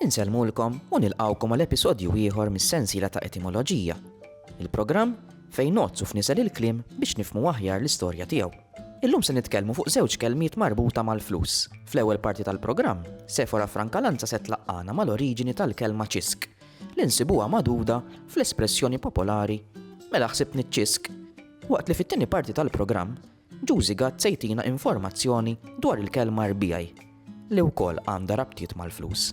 Insellmulkom u nilqgħukom għal episodju ieħor mis-sensiela ta' Etimoloġija, il-programm fejn nozzu f'nisel il-kliem biex nifmu aħjar l-istorja tiegħu. Illum se nitkellmu fuq żewġ kelmiet marbuta mal-flus. Fl-ewwel parti tal-programm, Sefora Frankalanza se tlaqqana mal-oriġini tal-kelma ċisk li nsibuha magħduda fl-espressjoni popolari mela ħsibni ċisk. Waqt li fit-tieni parti tal-programm Juzi Gatt se jtina informazzjoni dwar il-kelma RBI li wkoll għandha rabtiet mal-flus.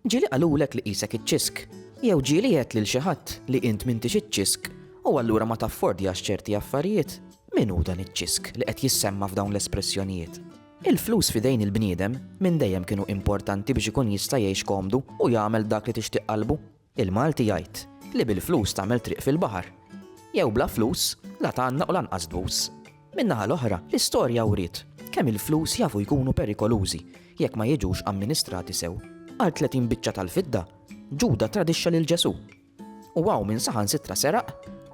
Ġieli qalulek li qisek iċ-ċisk, jew ġieli għedt lil xi ħadd li int m'intix iċ-ċisk u allura ma taffordjax ċerti affarijiet? Min hu dan iċ-ċisk li qed jissemma' f'dawn l-espressjonijiet? Il-flus f'idejn il-bniedem minn dejjem kienu importanti biex ikun jista' jgħix komdu u jagħmel dak li tixtieq qalbu. Il-Malti jgħid li bil-flus tagħmel triq fil-baħar. Jew bla flus, la tgħannaq u lanqas tbus. Min-naħa l-oħra, l-istorja wriet kemm il-flus jafu jkunu perikolużi jekk ma jiġux amministrati sew. Għal tletin biċċa tal-fidda, Ġuda tradixxa lil Ġesù. U hawn min saħansitra seraq,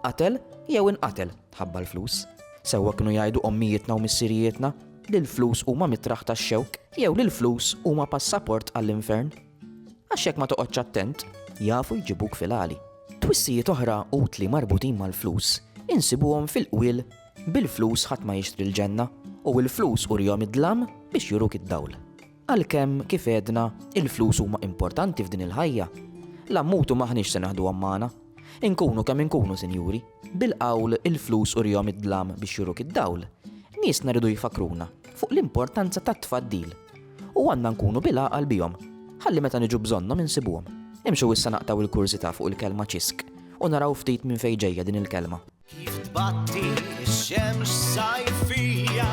qatel jew inqatel tħabba l-flus. Sewwa kienu jgħidu ommijietna u missirijietna li l-flus huma mitraħ tax-xewk jew li l-flus huma passaport għall-infern. Għax jekk ma toqgħodx attent, jafu jġibuk fil-għali. Twissijiet oħra utli marbutin mal-flus insibuhom fil-qwiel bil-flus ħadd ma jixtri l-ġenna u l-flus urihom id-dlam biex juruk id-dawl. Għalkemm kif għedna, il-flus huma importanti f'din il-ħajja, l-ammutu m'aħniex se naħduhom magħna. Inkunu kemm inkunu, sinjuri, bil-qawl il-flus urihom id-dlam biex juruk id-dawl, niesna rridu jfakkruna fuq l-importanza tat-tfaddil u għandna nkunu bil-għaqal bihom ħalli meta niġu bżonnhom insibuhom. Imxu issa naqtgħu l-kurżità fuq il-kelma ċisk u naraw ftit minn fejn ġejja din il-kelma. Kif tbatti x-xemx sajfija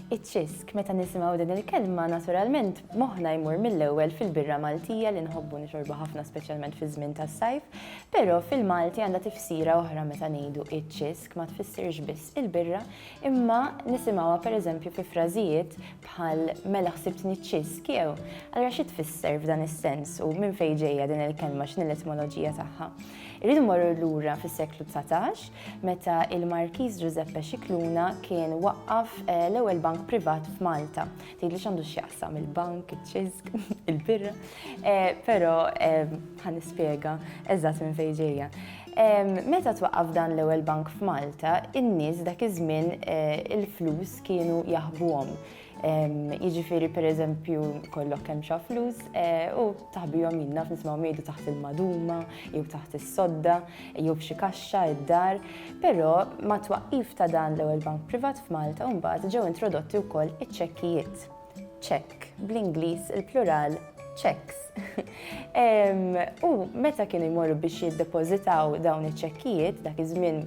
Iċ-ċisk, meta nisimgħu din il-kelma, naturalment moħħna jmur mill-ewwel fil-birra Maltija li nħobbu nixorbu ħafna speċjalment fi żmien tas-sajf, però fil-Malti għandha tifsira oħra meta ngħidu iċ-ċisk ma tfissirx biss il-birra, imma nisimgħuha pereżempju fi frażijiet bħal mela ħsibtni ċisk jew. Allura xi tfisser f'dan is-sens u minn fejn ġejja din il-kelma x'ni l-etmoloġija tagħha? Irridu mmorru lura fis-seklu dsatax, meta il-Markiż Ġużeppe Scicluna kien waqqaf eh, l-ewwel bank privat f'Malta. Tgħidli x'għandu x'jaqsam il-bank, iċ-ċiżg, il-birra, eh, però eh, ħa nispjega eżatt minn fejn ġejja. Meta twaqqaf dan l-ewwel bank f'Malta, in-nies dak iż-żmien eh, il-flus kienu jaħbuhom. Jiġifieri pereżempju kollok kemm xa flus u taħbihom jien naf nismgħu mejdu taħt il-maduma jew taħt is-sodda jew f'xi kaxxa id-dar, però ma' twaqqif ta' dan l-ewwel bank privat f'Malta mbagħad ġew introdotti wkoll iċ-ċekkijiet. Ċekk, bl-Ingliż il-plural cheques. U meta kienu jmorru biex jiddepożitaw dawn iċ-ċekkijiet, dak iż-żmien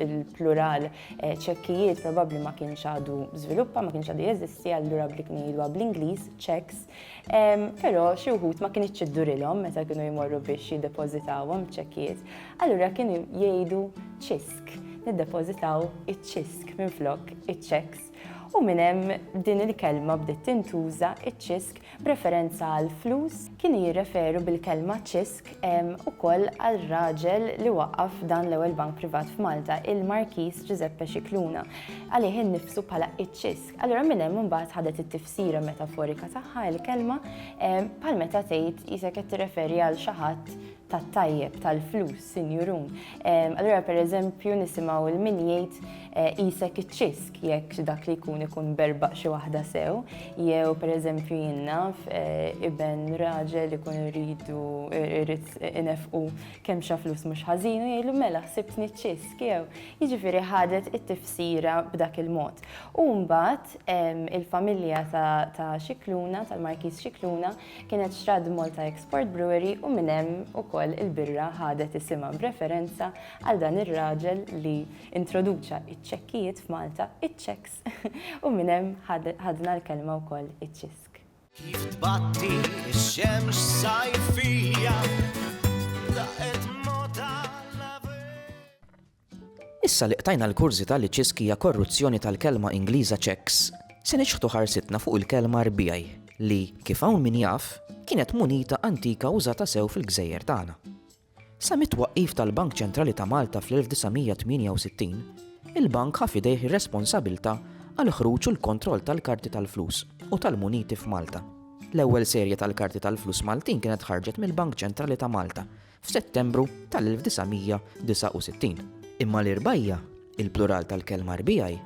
il-plural ċekkijiet probabbli ma kienx għadu żviluppa, ma kienx għadu jeżisti, allura bli kienu jidwa bl-Ingliż, checks, però xi wħud ma kienx iddurilhom meta kienu jmorru biex jiddepożitawhom ċekkijiet, allura kienu jgħidu ċisk, niddepożitaw iċ-ċisk minflok iċ-checks. U minn hemm din il-kelma bdiet tintuża iċ-ċisk B'referenza għall-flus, kienu jirreferu bil-kelma ċisk ukoll għal raġel li waqqaf dan l-ewwel bank privat f'Malta, il-Markiż Ġużeppe Scicluna. Għalih innifsu bħala ċ-ċisk. Allura minn hemm imbagħad ħadet it-tifsira metaforika tagħha l-kelma, bħal meta tgħid qisek qed tirreferi għal xi ħadd tat-tajjeb tal-flus, sinjurun. Allura pereżempju nisimgħu il min jgħid eh, isek iċ-ċisk jekk dak li jkun ikun berbaq xi waħda sew, jew pereżempju jinnaf eh, iben raġel ikun irridu irrid inefqu kemm xa flus mhux ħażin u jgħidu mela ħsibtni ċ-ċisk jew jiġifieri ħadet it-tifsira b'dak il-mod. U mbagħad il-familja ta' Xikluna, tal-Markiż Xikluna, Kienet Xradd Malta Export Brewery u minn hemm ukoll il-birra ħadet isimha b'referenza għal dan ir-raġel li introduċa ċ-ċekkijiet f'Malta, iċ-cheques, u minn hemm ħadna l-kelma wkoll iċ-ċisk. Kif tbatti x-xemx sajfija, daqqet Issa li qtajna l-kurżità li ċisk hija korruzzjoni tal-kelma Ingliża checks, se niċħdu ħarsitna fuq il-kelma rbiegħi li, kif hawn min jaf, kienet munita antika użata sew fil-gżejjer tagħna. Sa mit-twaqqif tal-Bank Ċentrali ta' Malta fl-1968, il-bank ħa f'idejh ir-responsabilità għall-ħruġ u l-kontroll tal-karti tal-flus u tal-muniti f'Malta. L-ewwel serje tal-karti tal-flus Maltin kienet ħarġet mill-Bank Ċentrali ta' Malta f'Settembru tal-1969. Imma l-irbgħija, il-plural tal-kelma rbigħi,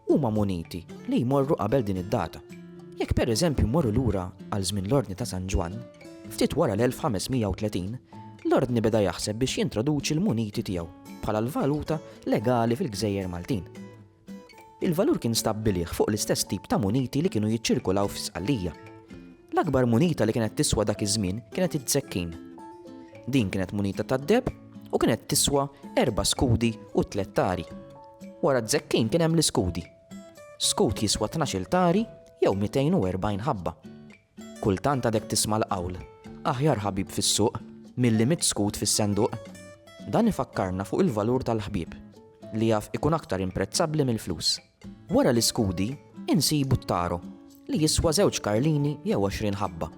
huma muniti li jmorru qabel din id-data. Jekk pereżempju mmorru lura għal żmien l-Ordni ta' San Ġwann, ftit wara l-1530, l-Ordni beda jaħseb biex jintroduċi l-muniti tiegħu bħala l-valuta legali fil-gżejjer Maltin. Il-valur kien stabbilih fuq l-istess tip ta' muniti li kienu jiċċirkulaw fi Sqallija. L-akbar munita li kienet tiswa dak iż-żmien kienet id-zekkin. Din kienet munita tad-deheb u kienet tiswa erba' skudi u tliet tari. Wara d-zekkin kien hemm l-iskudi. Skut jiswa tnax-il tari jew 240 ħabba. Kultant għadek tisma' l-qawl, Aħjar ħabib fis-suq, milli mitt skud fis-senduq. Dan ifakkarna fuq il-valur tal-ħbieb, li jaf ikun aktar imprezzabbli mill-flus. Wara l-iskudi, insibu t-taro, li jiswa żewġ karlini jew għoxrin ħabba.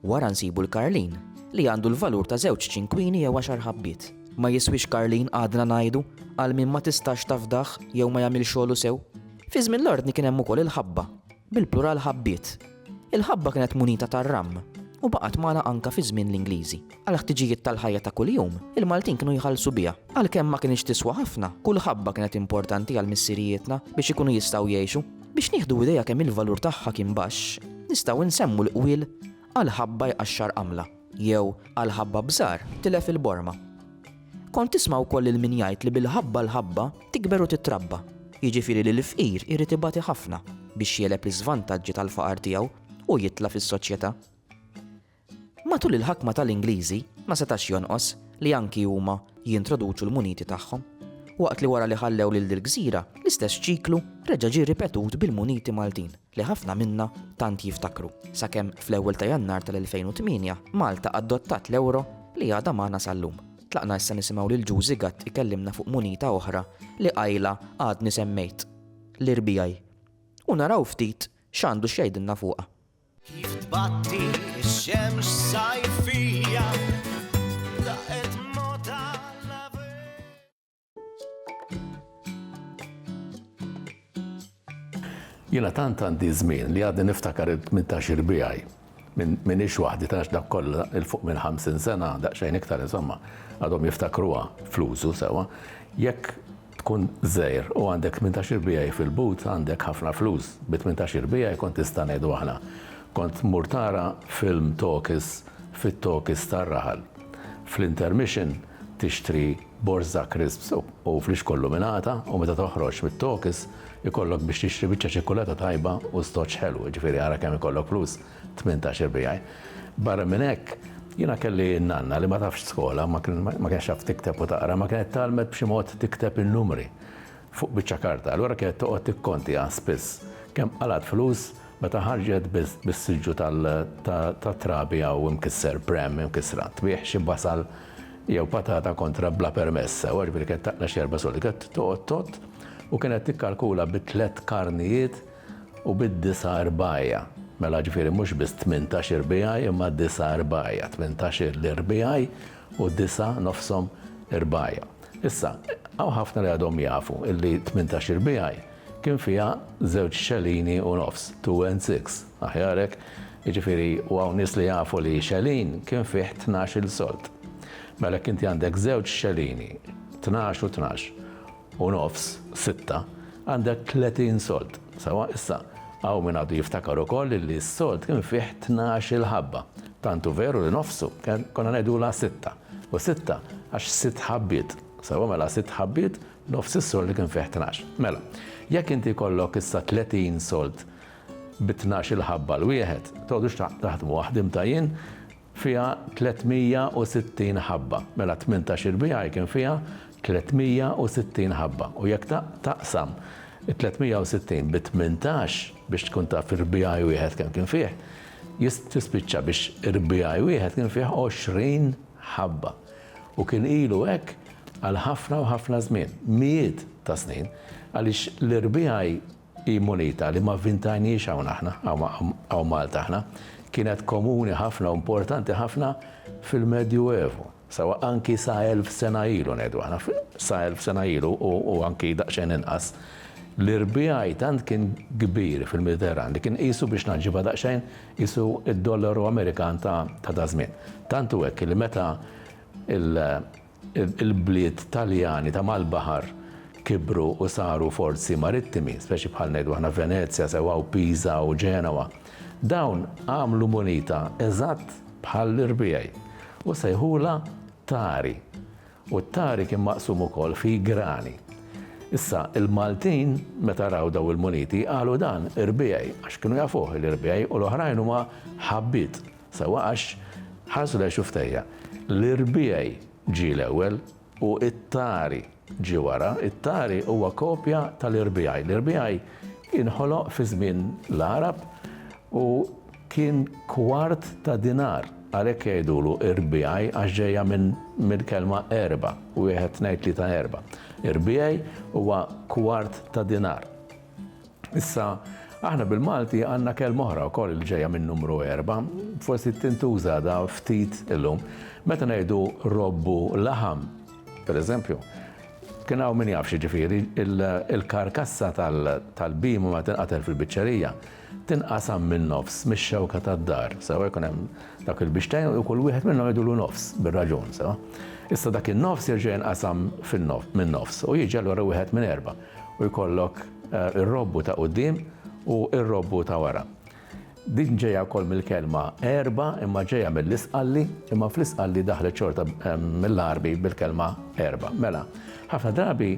Wara nsibu l-karlin, li għandu l-valur ta' żewġ ċinkwini jew għaxar ħabbiet. Ma jiswix karlin għadna ngħidu għal min ma tistax tafdah jew ma jagħmilx xogħlu sew. Fi żmien l-ordni kien hemm ukoll il-ħabba, bil-plural ħabbiet. Il-ħabba kienet munita tar-ram u baqgħet magħna anke fi żmien l-Ingliżi. Għall-ħtiġijiet tal-ħajja ta' kuljum, il-Maltin kienu jħallsu biha. Għalkemm ma kinitx tiswa ħafna, kull ħabba kienet importanti għal missirijietna biex ikunu jistgħu jgħixu. Biex nieħdu idea kemm il-valur tagħha kien baxx, nistgħu nsemmu l-qwiel Għal ħabba jqaxxar qamla. Jew, għal ħabba b'żgħar, tilef il-borma. Kont tisma' wkoll lil min jgħid li bil-ħabba l-ħabba tikber u titrabba, jiġifieri li l-fqir irid ibati ħafna biex jegħleb l-iżvantaġġi tal-faqar tiegħu u jitla' fis-soċjetà. Matul il-ħakma tal-Ingliżi ma setax jonqos li anki huma jintroduċu l-muniti tagħhom. Waqt li wara li ħallew lil dil-gżira, l-istess ċiklu reġa' ġie ripetut bil-muniti Maltin. li ħafna minna tant jiftakru, sakemm fl-ewwel ta' Jannar tal-2008 Malta adottat l-ewro li għadha magħna sal-lum. Tlaqna issa nisimgħu lil Ġu Zigat ikellimna fuq munita oħra li qajla għadni semmejt, l-RBI, u naraw ftit x'għandu x'jgħidilna fuqha. Kif tbatti x-xemx sajfija Jiena tant għandi żmien li għadni niftakar il-18 irbiegħi minn ix waħdi tax dak kollha il fuq minn 50 sena daqsxejn iktar insomma għadhom jiftakruha flużu sewa. Jekk tkun żejr u għandek 18 irbiegħi fil-but għandek ħafna flus. Bi 18 irbiegħi kont tista' ngħidu aħna. Kont mur tara film tokis fit-tokis tar-raħal. Fl-intermission tixtri Borża crisps u flix kollu minn għata u meta toħroġ mit-tokys ikollok biex tixtri biċċa ċikkulata tajba u stoċ ħelu, jiġifieri ara kemm ikollok flus, tmintax irbiegħi. Barra minn hekk, jiena kelli n-nanna li ma tafx skola, ma kienx taf tikteb u taqra, imma kienet tgħallmet b'xi mod tikteb in-numri fuq biċċa karta, allura kienet toqgħod tikkontiha spiss kemm qalgħet flus meta ħarġet bis-siġġu tat-trabi jew imkisser, pram imkissra, tbigħ xi basal, jew patata kontra bla permess. Sewwa, ġifieri kienet taqla' xi erba' sodi. Kienet toqgħod tgħodd u kienet tikkalkula bi tliet karnijiet u bi disa' rbgħajja. Mela ġifieri mhux biss tmintax irbigħaj imma disa' rbgħajja. Tmintax l-irbigħaj u disa' nofshom irbgħajja. Issa, hawn ħafna li għadhom jafu illi tmintax irbigħaj kien fiha żewġ xelini u nofs, two and six. Aħjar hekk, jiġifieri u hawn nies li jafu li xelin kien fih tnax-il sold. Mela jekk inti għandek żewġ xelini, tnax u tnax, u nofs, sitta, għandek tletin sold. Sewwa, issa, hawn min għadu jiftakar ukoll li s-sold kien fih tnax-il ħabba. Tant hu veru li nofsu konna ngħidulha sitta. U sitta għax sitt ħabbiet. Sewwa, mela sitt ħabbiet, nofs is-sold li kien fih tnax. Mela, jekk inti jkollok issa tletin sold, bi tnax-il ħabba 'l wieħed, tgħodux taħdmuha, ħdimtha jien, fiha 360 ħabba, mela tmintax-il biegħa jkun fiha 360 ħabba u jekk taqsam it-360 bi tmintax biex tkun taf irbiegħi wieħed kemm kien fih, tispiċċa biex irbiegħi wieħed kien fih 20 ħabba u kien ilu hekk għal ħafna u ħafna żmien, mijiet ta' snin, għaliex l-irbiegħi Hi munita li ma vvintajnhiex hawn aħna, hawn Malta aħna. Kienet komuni ħafna u mportanti ħafna fil-Medju Evu, sa anki sa elf sena ilu ngħidu aħna, sa elf sena ilu u anki daqsxejn inqas. L-irbiegħi tant kien kbir fil-Mediterran li kien qisu biex naġġibha daqsxejn qisu d-dollaru Amerikan ta' daż-żmien. Tant hu hekk li meta l. Il-bliet Taljani ta' mal-baħar kibru u saru forzi marittimi, speċi bħal ngħidu aħna Venezja sewwa u Pisa u Ġenowa. Dawn għamlu munita eżatt bħall-irbigħi u sejħulha tari. U t-tari kien maqsum ukoll fi grani. Issa, il-Maltin meta raw dawn il-muniti qalu dan irbigħi għax kienu jafuh l-irbigħi u l-oħrajn huma ħabbiet. Sewwa għax ħarsu lejha xuftejja. L-irbiegħi ġie l-ewwel u t-tari ġie wara. It-tari huwa kopja tal-irbiegħi. L-irbiegħi inħoloq fi żmien l-Għarab u kien kwart ta' dinar. Għalhekk jgħidulu irbiegħi għax ġejja mill-kelma erba', wieħed tnejn tlieta erba'. Irbiegħi huwa kwart ta' dinar. Issa, aħna bil-Malti għandna kelma oħra wkoll li ġejja minn numru erba', forsi tintuża da ftit illum. Meta ngħidu robbu laħam, pereżempju, kien hawn min jafx ġifieri il-karkassa tal-bima ma tinqatel fil-biċċerija, tinqasam min-nofs mix-xewka tad-dar, sewa jkun hemm dak il-bixtejn u kull wieħed minnhom jgħidulu nofs bir-raġun, sewa. Issa dak in-nofs jerġa' jinqasam min-nofs u jiġi allura wieħed minn erba'. u jkollok ir-robbu ta' quddiem u r-robbu ta' wara. Din ġejja wkoll mill-kelma erba' imma ġejja mill-Isqalli, imma fl-Isqalli daħlet xorta mill-Għarbi bil-kelma erba'. Mela, ħafna drabi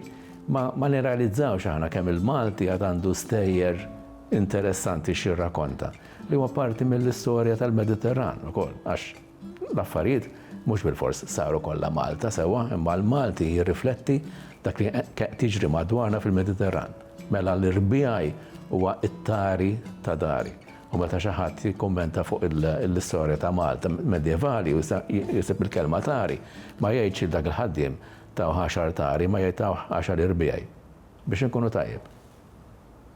ma nirrealizzawx aħna kemm il-Malti għad għandu stejjer interessanti x'jirrakonta, li huwa parti mill-istorja tal-Mediterran ukoll, għax L-affarijiet mhux bilfors saru kollha Malta sewwa, imma l-Malti jirrifletti dak li qed jiġri madwarna fil-Mediterran. Mela li rbiegħi huwa t-tari ta' dari. U meta xi ħadd jikkummenta fuq l-istorja ta' Malta medjevali u jsib il-kelma tari, ma jgħidx lil dak il-ħaddiem tawh għaxar tari, imma jgħid tawh għaxar irbiegħi. Biex inkunu tajjeb.